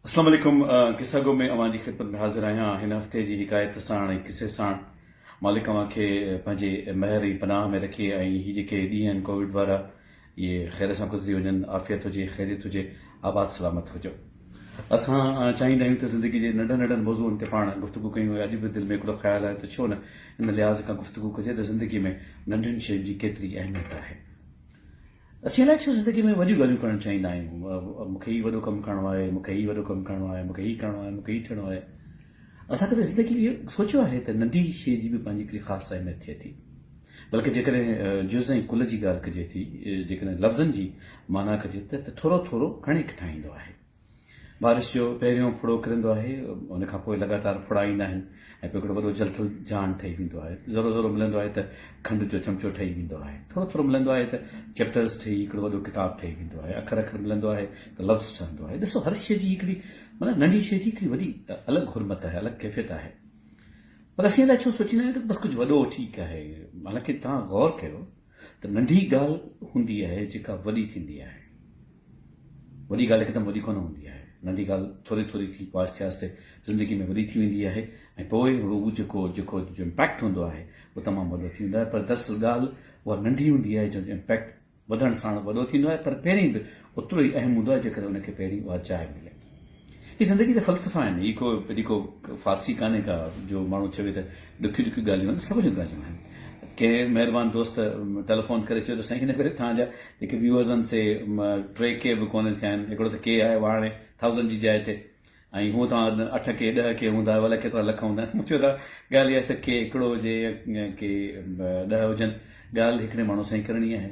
اسلام عليڪم قصه گو ۾ اوهان جي خدمت ۾ حاضر آهيان هن هفتي جي حڪايت ساڻ ۽ قصي ساڻ مالڪ اوهان کي پنهنجي مهر ۽ پناهه ۾ رکي ۽ هي جيڪي ڏينهن آهن ڪوويڊ وارا اهي خير سان گذري وڃن عافيت هجي خيريت هجي آباد سلامت هجو اسان چاهيندا آهيون ته زندگي جي ننڍن ننڍن موضوعن تي پاڻ گفتگو ڪيون ۽ اڄ به دل ۾ هڪڙو خيال آهي ته ڇو نه ان لحاظ کان گفتگو ڪجي ته زندگي ۾ ننڍن شين جي ڪيتري اهميت آهي اسين الائي ڇو زندگي ۾ وڏيون ڳالهيون ڪرڻ چاهيندا آهيون، مون کي هي وڏو ڪم ڪرڻو آهي، مون کي هي وڏو ڪم ڪرڻو آهي، مون کي هي ڪرڻو آهي، مون کي هي ٿيڻو آهي. اسان ڪڏهن زندگي ۾ اهو سوچيو آهي ته ننڍي شيء جي به پنهنجي هڪڙي خاص اهميت ٿئي ٿي. بلڪه جيڪڏهن جز ۽ ڪل جي ڳالهه ڪجي ٿي، جيڪڏهن لفظن جي معنيٰ ڪجي ته ته ٿورو ٿورو گهڻي ڪٺائيندو آهي. بارش جو پهريون ڦڙو ڪرندو آهي، ان کان پوء لڳاتار ڦڙا ايندا آهن ۽ پوء هڪڙو وڏو جلٿل جھان ٺهي ويندو آهي. ذرو ذرو ملندو آهي ته کنڊ جو چمچو ٺهي ويندو آهي. ٿورو ٿورو ملندو آهي ته چيپٽرز ٺهي هڪڙو وڏو ڪتاب ٺهي ويندو آهي. اکر اکر ملندو آهي ته لفظ ٺهندو آهي. ڏسو هر شيء جي هڪڙي معنيٰ ننڍي شيء جي هڪڙي وڏي الڳ حرمت آهي، الڳ ڪيفيت آهي. پر اسين الاء ڇو سوچيندا آهيون ته بس ڪجهه وڏو ٺيڪ آهي. حالانڪه توهان غور ڪيو. ته ننڍي ڳالهه هوندي آهي جيڪا وڏي ٿيندي آهي. وڏي ڳالهه هڪدم وڏي ڪونه هوندي آهي. ننڍي ڳالهه ٿوري ٿوري ٿي پوء آهستي آهستي زندگي ۾ وڏي ٿي ويندي آهي ۽ پوء هو جيڪو جيڪو جو امپيڪٽ هوندو آهي اهو تمام وڏو ٿي ويندو آهي پر دراصل ڳالهه اها ننڍي هوندي آهي جنهن جو امپيڪٽ وڌڻ ساڻ وڏو ٿيندو آهي پر پهرين به اوترو ئي اهم هوندو آهي جيڪڏهن ان کي پهرين اها جاء ملي. هي زندگي جا فلسفا آهن. هي ڪو اهڙي ڪو فارسي ڪانهي ڪا جو ماڻهو چوي ته ڏکيون ڏکيون ڳالهيون آهن، سوليون ڳالهيون آهن. ڪنهن مهربان دوست ٽيليفون ڪري چيو ته سائين هن ڀيري توهان جا جيڪي ويوز آهن سي ٽي ڪي به ڪونه ٿيا آهن، هڪڙو ته ڪي آيو آهي هاڻي ٿائوزنڊ جي جاء تي ۽ هونء توهان اٺ ڪي ڏهه ڪي هوندا آهيو الائي ڪيترا لک هوندا آهن. مون چيو ته ڳالهه اها آهي ته ڪي هڪڙو هجي يا ڪي ڏهه هجن ڳالهه هڪڙي ماڻهو سان ئي ڪرڻي آهي.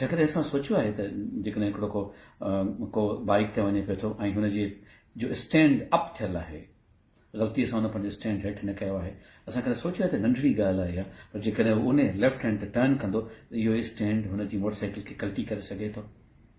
جيڪڏهن اسان سوچيو آهي ته جيڪڏهن هڪڙو ڪو ڪو بائيڪ تي وڃي پيو ٿو ۽ هن جي جو اسٽينڊ اپ ٿيل آهي غلطي سان هن پنهنجو اسٽينڊ هيٺ نه ڪيو آهي اسان ڪڏهن سوچيو آهي ته ننڍڙي ڳالهه آهي اها پر جيڪڏهن هو ان ليفٽ هينڊ تي ٽرن ڪندو ته اهو اسٽينڊ هن جي موٽر سائيڪل کي ڪلٽي ڪري سگهي ٿو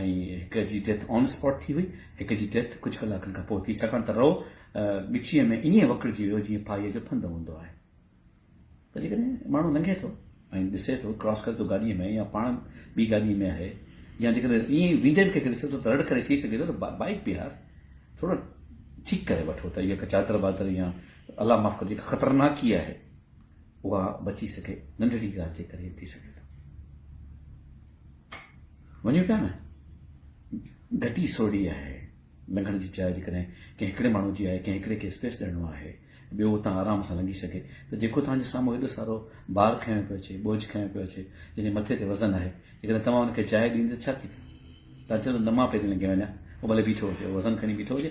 ۽ هڪ جي ڊيٿ آن اسپاٽ ٿي هئي، هڪ جي ڊيٿ ڪجهه ڪلاڪن کان پوء ٿي ڇاڪاڻ ته رئو ڳچيء ۾ ائين وڪڙجي ويو جيئن ڦاهيء جو ڦند هوندو آهي ته جيڪڏهن ماڻهو لنگهي ٿو ۽ ڏسي ٿو ڪراس ڪري ٿو گاڏيء ۾ يا پاڻ ٻي گاڏيء ۾ آهي يا جيڪڏهن ائين ويندي به ڪنهن کي ڏسي ٿو ته رڙ ڪري چئي سگهي ٿو ته بائيڪ بيهار ٿورو ٺيڪ ڪري وٺو ته اها ڪا چادر بادر يا الله معاف ڪري جيڪا خطرناڪي آهي اها بچي سگهي ننڍڙي ڳالهه جي ڪري ٿي سگهي ٿو وڃو پيا نه گهٽي سوڙي آهي لنگهڻ جي جاء جيڪڏهن ڪنهن هڪڙي ماڻهو جي آهي ڪنهن هڪڙي کي اسپيس ڏيڻو آهي ٻيو اتان آرام سان لنگهي سگهي ته جيڪو توهان جي سامهون هيڏو سارو بار کنيو پيو اچي بوجھ کنيو پيو اچي جنهن جي مٿي تي وزن آهي جيڪڏهن توهان ان کي جاء ڏيندا ڇا ٿي پيو تاچل نه مان پهرين لنگهي وڃان هو ڀلي بيٺو هجي وزن کڻي بيٺو هجي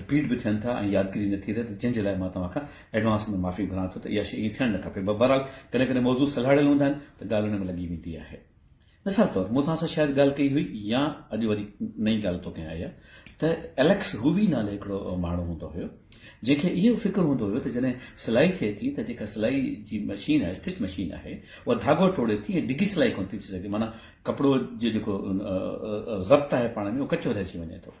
رپيٽ به ٿين ٿا ۽ يادگيري نه ٿي رهي ته جنهن جي لاء مان توهان کان ايڊوانس ۾ معافي گهران ٿو ته اها شيء ائين ٿيڻ نه کپي بهرحال ڪڏهن ڪڏهن موضوع سلهاڙيل هوندا آهن ته ڳالهه ان ۾ لڳي ويندي آهي مثال طور مون توهان سان شايد ڳالهه ڪئي هئي يا اڄ وري نئين ڳالهه تو ڪيان اها ته اليڪس هووي نالي هڪڙو ماڻهو هوندو هيو جنهن کي اهو فڪر هوندو هيو ته جڏهن سلائي ٿئي ٿي ته جيڪا سلائي جي مشين آهي اسٽچ مشين آهي اها ڌاڳو ٽوڙي ٿي ۽ ڊگهي سلائي ڪونه ٿي ٿي سگهي معنيٰ ڪپڙو جو جيڪو ضبط آهي پاڻ ۾ اهو ڪچو رهجي وڃي ٿو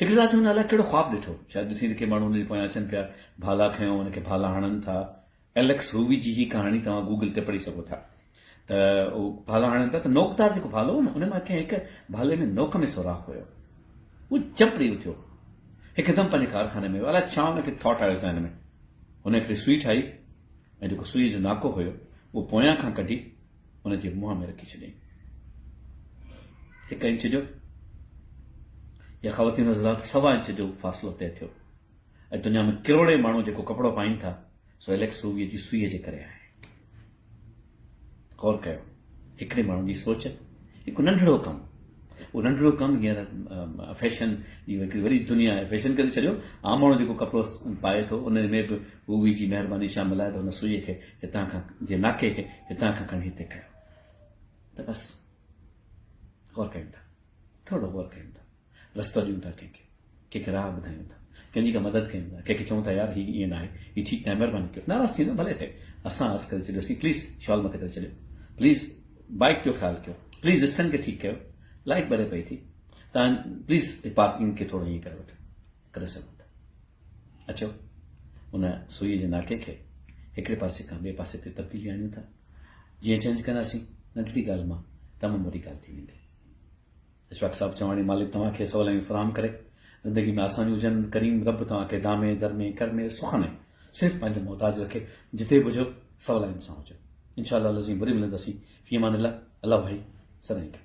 هڪڙي رات هن الائي ڪهڙو خواب ڏٺو. شايد ڏٺئي ته ڪي ماڻهو هن جي پويان اچن پيا. ڀالا کنيو، هن کي ڀالا هڻن ٿا. اليڪس هووي جي هي ڪهاڻي توهان گوگل تي پڙهي سگهو ٿا. ته هو ڀالا هڻن پيا ته نوڪ دار جيڪو ڀالو هو نه ان مان ڪنهن هڪ ڀالي ۾ نوڪ ۾ سوراخ هيو. هو چپ ڏئي اٿيو. هڪدم پنهنجي ڪارخاني ۾ ويو. الائي ڇا هن کي ٿاٽ آيو ذهن ۾. هن هڪڙي سوئي ٺاهي ۽ جيڪو سوئي جو ناڪو هيو اهو پويان کان ڪڍي ان جي منهن ۾ رکي ڇڏيائين. هڪ انچ جو يا خواتين حضرات سوا انچ جو فاصلو طئي ٿيو ۽ دنيا ۾ ڪروڙين ماڻهو جيڪو ڪپڙو پائين ٿا سو اليڪس روويء جي سوئيء جي ڪري آهي. غور ڪيو هڪڙي ماڻهو جي سوچ هڪ ننڍڙو ڪم اهو ننڍڙو ڪم هينئر فيشن جي هڪڙي وڏي دنيا فيشن ڪري ڇڏيو عام ماڻهو جيڪو ڪپڙو پائي ٿو ان ۾ به رووي جي مهرباني شامل آهي ته هن سوئيء کي هتان کان جي ناڪي کي هتان کان کڻي هتي ڪيو ته بس غور ڪيون ٿا ٿورو غور ڪيون ٿا رستو ڏيون ٿا ڪنهن کي ڪنهن کي راهه ٻڌايون ٿا ڪنهن جي ڪا مدد ڪيون ٿا ڪنهن کي چون ٿا يار هي ائين ناهي هي ٺيڪ ناهي مهرباني ڪيو ناراض ٿيندو ڀلي ٿئي اسان عرض ڪري ڇڏيوسين پليز شال مٿي ڪري ڇڏيو پليز بائڪ جو خيال ڪيو پليز اسٽنڊ کي ٺيڪ ڪيو لائٽ ٻري پئي ٿي تان پليز پارڪنگ کي ٿورو ائين ڪري وٺو ڪري سگهون ٿا. اچو ان سوئي جي ناڪي کي هڪڙي پاسي کان ٻئي پاسي تي تبديلي آڻيون ٿا. جيئن چينج ڪنداسين ننڍڙي ڳالهه مان تمام وڏي ڳالهه ٿي ويندي. اشفاق صاحب چواڻي مالڪ توهان کي سولائيون فراهم ڪري زندگي ۾ آسانيون هجن ڪريم رب توهان کي دامي درمي ڪرمي سخ ۾ صرف پنهنجو محتاج رکي جتي به هجو سولائين سان هجو انشاءالله لذين وري ملنداسين في امان الله الله ڀائي سدائين گڏ